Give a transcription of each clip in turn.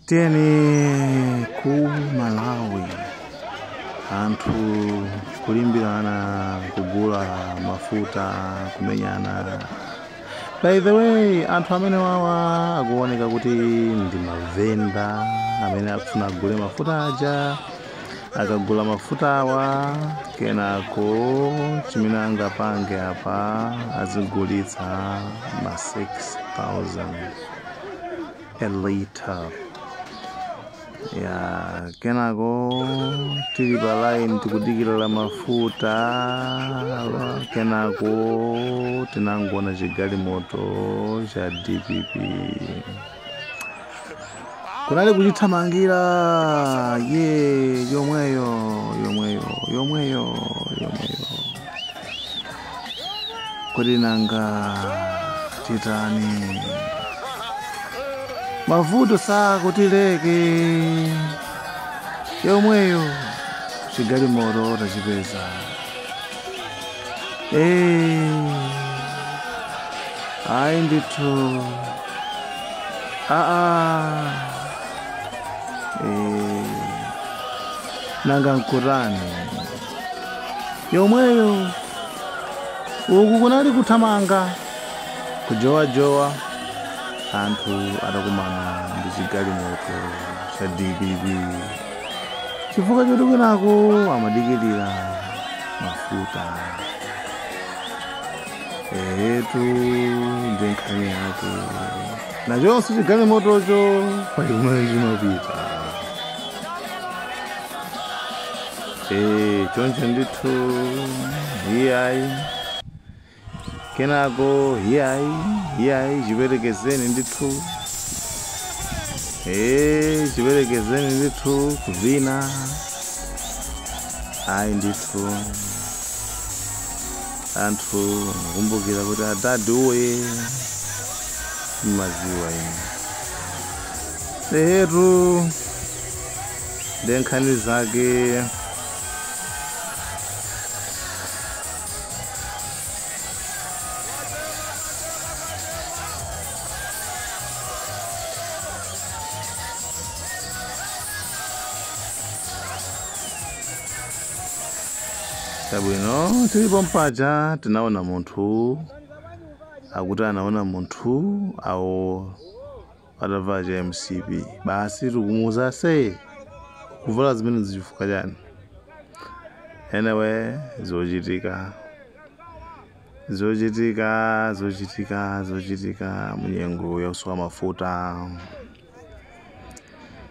tiyeni ku malawi anthu kulimbirana kugula mafuta kumenyana by the way anthu amene wawa akuoneka kuti ndi mavenda amene akufuna agule mafuta aja akagula mafuta awa kenako chimene angapange apa azigulitsa ma 6000 a liter ya kenako tili pa line tikudikirira mafuta wa- kenako tinangoona chigalimoto cha dpp kunali kuchithamangira ye yomweyo yomweyo yomweyo yomweyo kodi nanga titani mavuto sakutileka yomweyo chigalimoto tachipeza Eh, ayi ndithu aa Eh, nanga nkutani yomweyo uku kunali kuthamanga kujowajowa anthu atakumana ndi chigalimoto cha dpp chifukwa choti kwinako amadikirira mafuta eetu ndi nkhani yake nachonso chigalimotocho pali kumene chimapita Eh, choncho ndithu iyayi kenako iyayi iyayi chiperekezeni ndithu Eh, chiperekezeni ndithu kuvina ayi ndithu anthu akumbukira kuti adadi uye mmaziwa ine ehetu nde nkhani zake zabwino tilipo mpaja tinaona munthu akuti anaona munthu awo atavala cha mcp basi tikumuuza asiye kuvala zimene zichifukwa chani anyway zochitika zochitika zochitika zochitika munyengo yakusowa mafuta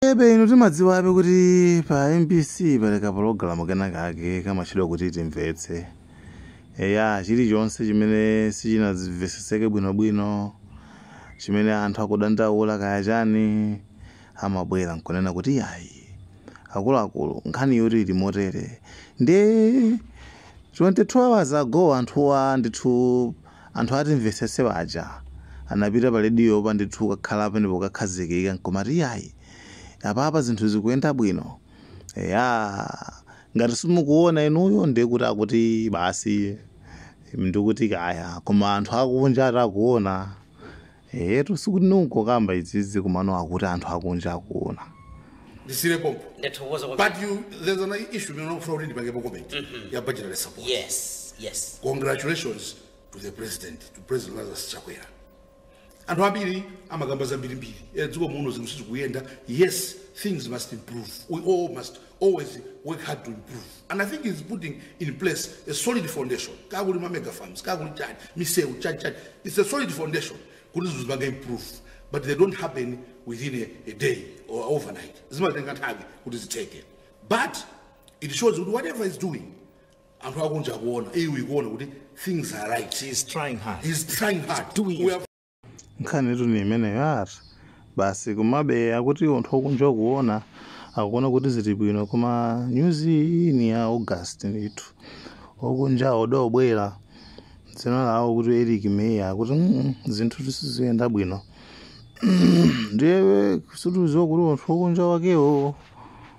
ebe inu timadziwabe kuti pa mbc pali kapologalamu kenakake kamatchedwa kuti timvetse eya chilichonse chimene sichinamveseseke bwinobwino chimene anthu akudandaula kaya chani amabwera nkunena kuti iyayi akuluakulu nkhani yoti yoti ili motere ndi 22 hours ago anthuwa ndithu Anthu atimvesese waja anapita pa radiopa ndithu kukakhala penepo kukakhazikika nkumati iyayi apapa zinthu zikuyenda bwino eya ngati simukuona inuyo ndiye kuti akuti basi ndikuti kaya koma anthu akunja ati akuona Eetu sikuti nungokamba izizi komano akuti anthu akunja akuona. ndisiire pompo ndathokoza kwa but there's an issue imene unakufuna kuti ndipangepo comment ya budgetary support yes yes congratulations to the president to president lazarus chakwera anthu ambiri amakamba zambirimbiri Eh, dziko muno zinthu sizikuyenda yes things must improve we all must always work hard to improve and i think he's putting in place a solid foundation kaya kuli ma mega farms kaya kuli chani misewu chani chani it's a solid foundation kuti zinthu zipange improve but they don't happen within a, a day or overnight zimatenga nthawi kuti zitheke but it shows kuti whatever is doing anthu akunja kuona iwe ikuona kuti things are right He's trying hard. he's trying hard doing we it. have nkhanitu ni imeneyo ati basi komabe akuti anthu okunja akuona akuona kuti zili bwino koma nyuzi iyi ni ya august ndithu okunja odobwera dzina lawo kuti eric meya akuti "Mm, zinthutu siziyenda bwino ndiye situziwa kuti anthu okunja wakewo